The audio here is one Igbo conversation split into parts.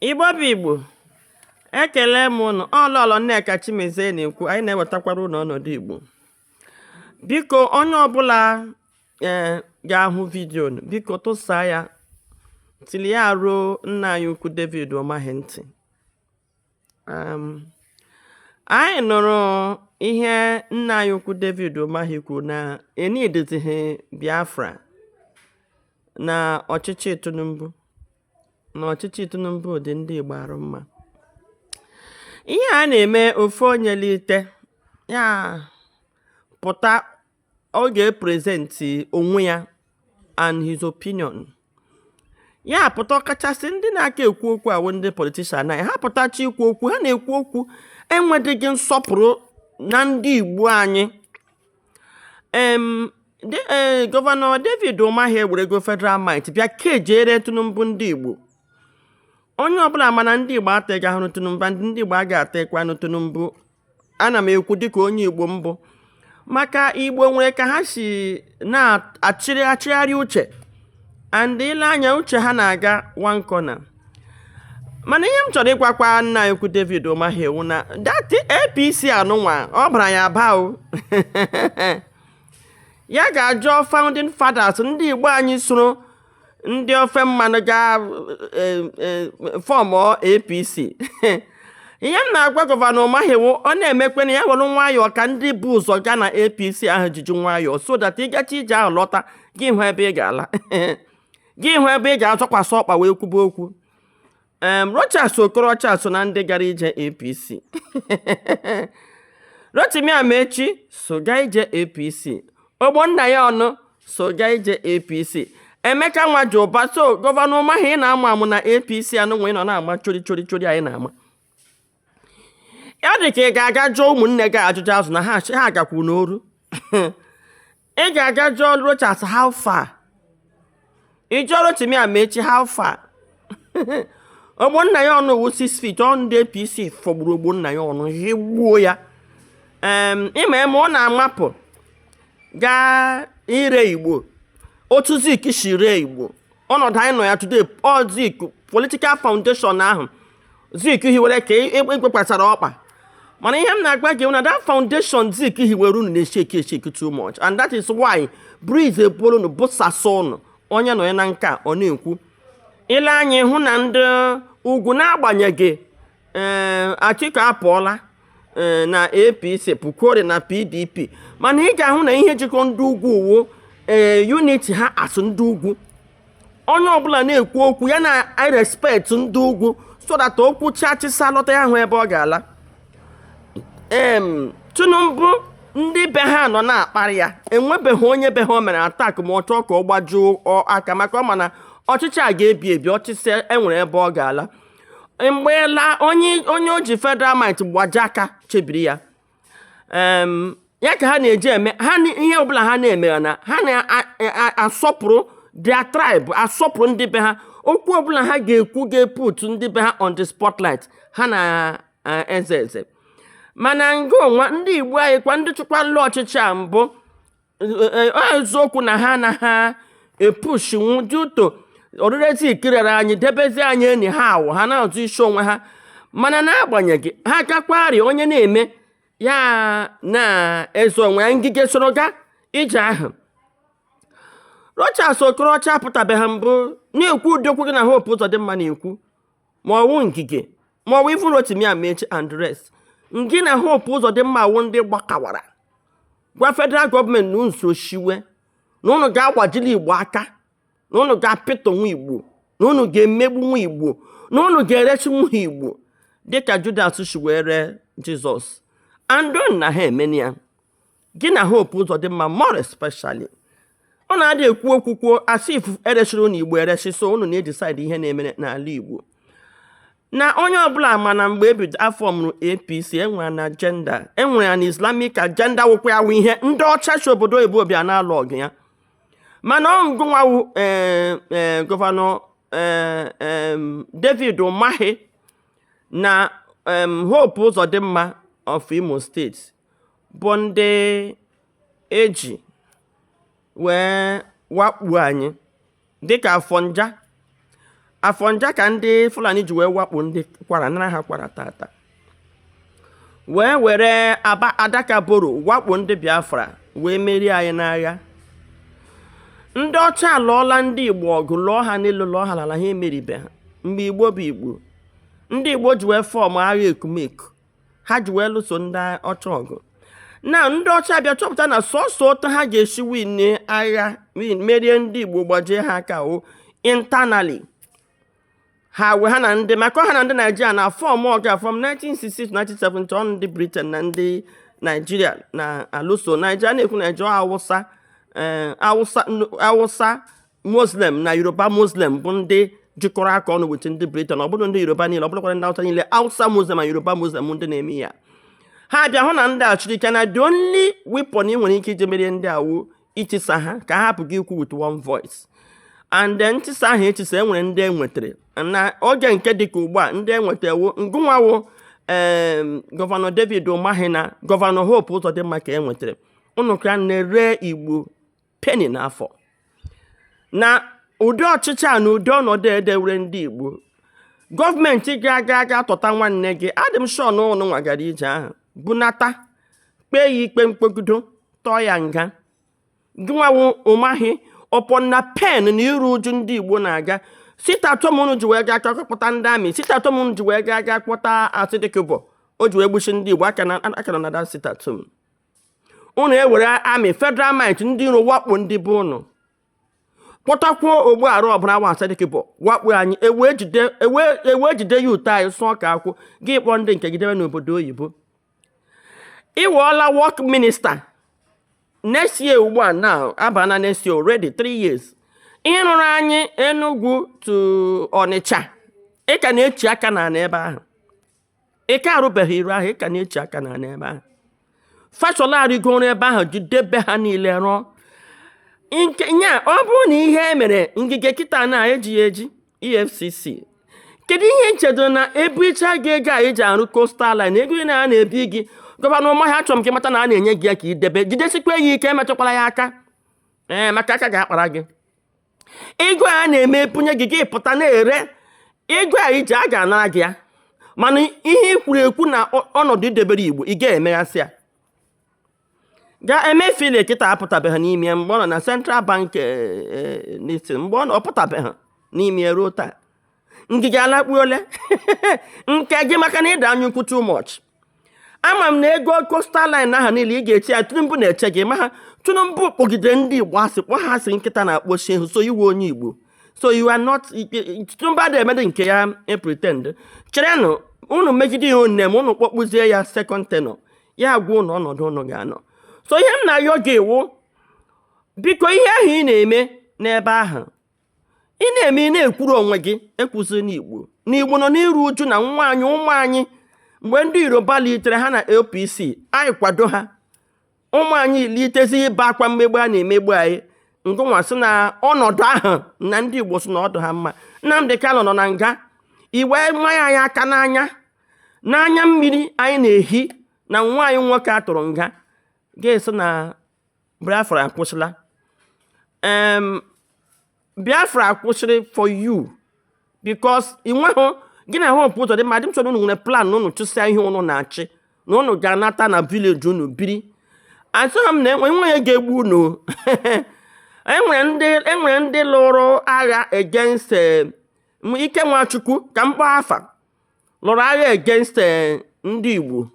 Igbo bụ Igbo ekele m ụnụ ọ Lọlọ Nneka Chimezie na-ekwu anyị na-ewetakwara ụnụ ọnọdụ Igbo biko onye ọbụla ee eh, ga-ahụ vidio biko tụsa ya till ya ruo nna anyị ukwu David Umahi ntị anyị nụrụ ihe nna anyị ukwu David Umahi kwuru na enidizighị Biafra na ọchịchị Tinubu na ọchịchị Tinubu dị ndị Igbo arụ mma ihe a na-eme ofu onye lite ya pụta ọ ga-eprezentị onwe ya and his opinion ya pụta ọkachasị ndị na-aka ekwu okwu wụ ndị politician anyị ha pụtacha ikwu okwu ha na-ekwu okwu enwedịghị nsọpụrụ na ndị igbo anyị em de- eh, gọvanọ david ụmahị ewerego federal might bịa kejere tinubu ndị igbo onye ọbụla mana ndị igbo ataghị ahụrụ tinubu and ndị igbo agaghị atakwanụ tinubu ana m ekwu dịka onye Igbo m bụ maka Igbo nwere ka ha si na-achịrị achịgharị uche and ile anya uche ha na-aga one corner mana ihe m chọrọ ịgwakwa nna anyị ukwu David Umahi wu na that APC anụnwa ọ bara ya aba o ya gaa jụọ founding fathers ndị Igbo anyị soro ndị ofe mmanụ gaa e, e, form apc ihe m na-agwa gọvanọ ụmahi wu ọ na-emekwenụ ya were nwayọọ ka ndị bu ụzọ gaa na apc ahụ jiji nwayọọ so that ị gachaa ije ahụ lọta gị hụ ebe ị ga-ala gị hụ ebe ị ga-azọkwasị ọkpa wee kwube okwu em Rochas Okorocha so na ndị gara ije APC Rotimi Amaechi so gaa ije APC Ogbonnaya Onu so gaa ije APC Emeka Nwajiuba so gọvanọ Umahi ị na-amụ amụ na APC anụnwa ị nọ na-ama chori chori chori anyị na-ama ọ dị ka ị ga-aga jụọ ụmụnne gị ajụjụ azụ na ha ha agakwu n'oru ị ga-aga jụọ rochas how far ị jụọ rotimi amaechi how far ogbonnaya onu wu 6 feet ọ ndị apc fọgburu ogbonnaya onu ihe gbuo ya ịma eme ọ na-amapụ gaa ire igbo otu zik si ree igbo ọnọdụ anyị nọ ya today ọ zik political foundation ahụ Zik hiwere ka a gbakwasara ọkpa mana ihe m na-agwa gị na that foundation Zik hiwere unu na-esheki esheki too much and that is why breeze ebuola unu busasa unu onye nọ ya na nke ọ na-ekwu i lee anya ị hụ na ndị ugwu n'agbanyeghị ee eh, Atiku apụọla e, na apc pụkwuori na pdp mana ị ga-ahụ na ihe jikọ ndị ugwu wụ ee eh, unity ha as ndị ugwu onye ọbụla na-ekwu okwu ya na-erespect ndị ugwu so that o kwuchaa chịsịa lọta ya ahụ ebe ọ ga-ala em tinubu ndị be ha nọ na-akparị ya enwebeghị onye be ha o mere attack ma ọ chọọ ka ọ gbajie aka maka ọ ma na ọchịchị a ga-ebi ebi ọ chịsịa e nwere ebe ọ ga-ala mgbeela onye onye o ji federal might gbajie aka chebiri ya Em, ya ka ha na-eji eme ha ni- ihe ọbụla ha na-eme ya na ha na-asọpụrụ their tribe asọpụrụ ndị be ha okwu ọbụla ha ga-ekwu ga-eput ndị be ha on the spotlight ha na-eze eze mana ngị nwa ndị igbo anyị kwa ndị chịkwala ọchịchị a mbụ eziokwu na ha na ha epushinwu dị ụtọ ọrịrịta ikirere anyị debezi anyị enyi ha awụ ha na-azọ isi onwe ha mana n'agbanyeghị ha gakwari onye na-eme ya na-ezo onwe ya ngige soro gaa ije ahụ Rochas Okorocha apụtabeghị mbụ na-ekwu ụdị okwu gị na Hope Uzodimma na-ekwu ma ọ wụ ngige ma ọ wụ even rotimi amaechi and rest ngị na hope uzodimma awụ ndị gbakawara gwa federal gọọmenti na nso shiwe na ụnụ ga-agbajili igbo aka na ụnụ ga-apịtọ nwa igbo na ụnụ ga-emegbu nwa igbo na ụnụ ga-ereshi nwa igbo dịka judas shi ree jizọs and then na ha emeni ya gị na Hope Uzodimma more especially ọ na-adị ekwu okwu kwuo as if eresịrị unu Igbo eresị so unu na-edisaidi ihe na-emere n'ala Igbo na onye ọbụla ma na mgbe ebido a fọmụrụ APC enwere an agenda enwere an Islamic agenda wụkwa ya ihe ndị ọcha si obodo oyibo bịa na-alụ ọgụ ya mana ọ ngị nwa wụ eh, eh, gọvanọ eh, David Umahi na Hope Uzodimma of Imo steeti bụ ndị e ji wee wakpo anyị dịka afọnja afọnja ka ndị fulani ji wee wakpo ndị kwara nara ha kwara taata wee were adaka boro wakpo ndị biafra wee merie anyị n'agha ndị ọcha alụọla ndị igbo ọgụ lụọ ha n'elu lụọ ha n'ala ha emeribe ha mgbe igbo bụ igbo ndị igbo ji wee fọm agha ekumeku ha ji wee lụso ndị ọcha ọgụ na ndị ọcha bịa chọpụta na sọsọ otu ha ga-esi win agha wee merie ndị igbo gbajie ha aka ọ internally ha wee ha na ndị maka ha na ndị naijiria na fọm agha from 1967 1970 ọ ndị briten na ndị naijiria na-alụso anyị na-ekwu naijiria awụsa eh, awụsa muslim na yoruba muslim bụ ndị jikọrọ aka ọnụ with ndị briten ọ bụrụ ndị yoruba niile ọ bụrụkwara ndị awụsa niile awụsa muslim na yoruba muslim ndị na-eme ya ha bịa hụ na ndị a siri ike na the only weapon ị nwere ike iji merie ndị a wụ itisa ha ka ha hapụ gị ikwu with one voice and then ntisa ahụ etisa enwere ndị enwetara na oge nke dịka ugbu a ndị enweta wụ ngịnwa wụ em gọvanọ david ụmahi na gọvanọ hope ụzọdịmma ka enwetara ụnụ ka na-ere igbo pain n'afọ na ụdị ọchịchị a na ụdị ọnọdụ edewere ndị Igbo gọọmenti ga-aga aga tọta nwanne gị adị m sure na ụnụ nwa gara ije ahụ bunata kpee ya ikpe mkpogido tụọ ya nga gịnwa wụ ụmahi upon the pain na iru uju ndị Igbo na-aga sit at home unu ji wee gaa aga kpọta ndị army sit at home unu ji wee gaa gaa kpọta asari dokubo o ji wee gbusi ndị Igbo aka na aka na nada sit at home unu ewere army federal government ndị iro wakpo ndị igbo unu kpọtakwuo ogbu arụ ọbụla wụ asari dokubo wakpo anyị ewee jide ewee ewee jide ya ụtọ anyị sụọ ka akwụ gị kpọọ ndị nke gị debe n'obodo oyibo ị wụọla work minista next year ugbu a na-aba na next year already three years ị rụrụ anyị enugwu to ọnịcha ị ka na-echi aka na n'ebe ahụ ị ka arụbeghị iru ahụ ị ka na-eche aka na n'ebe ahụ fashola arịgoro ebe ahụ jidebe ha niile rụọ nke ya ọ bụrụ na ihe e mere ngige kịta na e ji ya eji efcc kedu ihe i chedụ na e bu eche gị ego a eji arụ coastal line ego ị na a na-ebi gị gọvanọ ụmahi achọrọ m ka ị mata na a na-enye gị ya ka i debe jidesikwa ya ike emetụkwala ya aka ee maka aka ga-akpara gị ego a na-eme bunye gị gị pụta na-ere ego a iji a ga-anara gị ya mana ihe i kwuru ekwu na ọnọdụ i debere igbo ị ga-emeghasị ya ga emefiele kịta apụtabeghị n'ime ya mgbe ọ nọ na central bank eh, eh, n'isi mgbe ọ nọ ọ pụtabeghị n'ime ya ruo taa ngige alakpuole nke gị maka na ị dị anya ukwu too much ama m na ego coastal line ahụ niile ị ga-eche ya tinubu na-eche gị maka tinubu kpọgide ndị igbo asị kpọ ha asị nkịta na-akpọ nsị ehi so ị wụ onye igbo so you are not tinubu adịghị emedị nke ya e pretend cherenụ unu megide ya one ma unu kpọkpụzie ya second tenure ya agwa unu ọnọdụ unu ga-anọ so ihe m na-ayọ gị wụ biko ihe ahụ ị na-eme n'ebe ahụ ị na-eme ị na-ekwuru onwe gị ekwuzina igbo na igbo nọ n'iru uju na nwa anyị ụmụ anyị mgbe ndị yoruba litere ha na apc anyị akwado ha ụmụ anyị litezi ibe akwa mmegbu a na-emegbu anyị ngịnwa sị na ọnọdụ ahụ na ndị igbo sị na ọ dị ha mma nnamdị kanụ nọ na nga i wee manye anyị aka n'anya na anya mmiri anyị na-ehi na nwa anyị nwoke a tụrụ nga ga-esi na Biafra akwụsịla um, Biafra akwụsịrị for you because ị nweghị gị na Hope Uzodimma adịghị m sure unu nwere plan na unu chịsịa ihe unu na-achị na unu ga-anata na village unu biri asịghị m na enwe onye ga-egbu unu enwere ndị enwere ndị lụrụ agha against eh, m- Ike Nwachukwu ka m kpọọ afa lụrụ agha against eh, ndị Igbo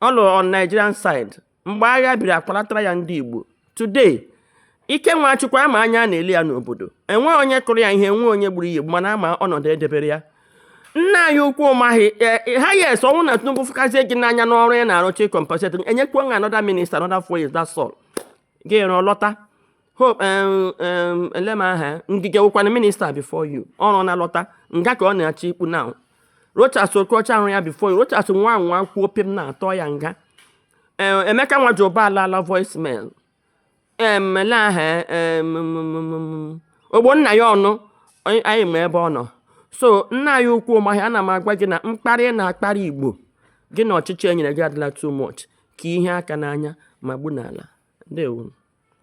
ọ lụrụ on Nigerian side mgbe agha biri akwalatara ya ndị Igbo today Ike Nwachukwu a ma anya a na-ele ya n'obodo enwe onye kụrụ ya ihe enwe onye gburu ya egbu mana a ma ọnọdụ e debere ya nna anyị ukwu Umahi e, ha yes ọ wụ na Tinubu fụkazie gị n'anya n'ọrụ ị na-arụcha e compensate enyekwuo nwa another minister another four years that's all gị rụọ lọta Hope um, um, ele m aha ya Ngige wụkwanụ minister before you ọrụ na-alọta nga ka ọ na-achọ ikpu na Rochas Okorocha ahụ ya before you Rochas nwa anwa kwuo pim a tụọ ya nga Eh, Emeka Nwajiuba alaala voicemail em ele aha ya, em, m, m, m, m. Ogbonnaya Onu anyị anyị ma ebe ọ nọ so nna anyị ukwu Umahi ana m agwa gị na mkparị ị na-akparị Igbo gị na ọchịchị e nyere gị adịla too much ka i hie aka n'anya ma gbu n'ala ndewo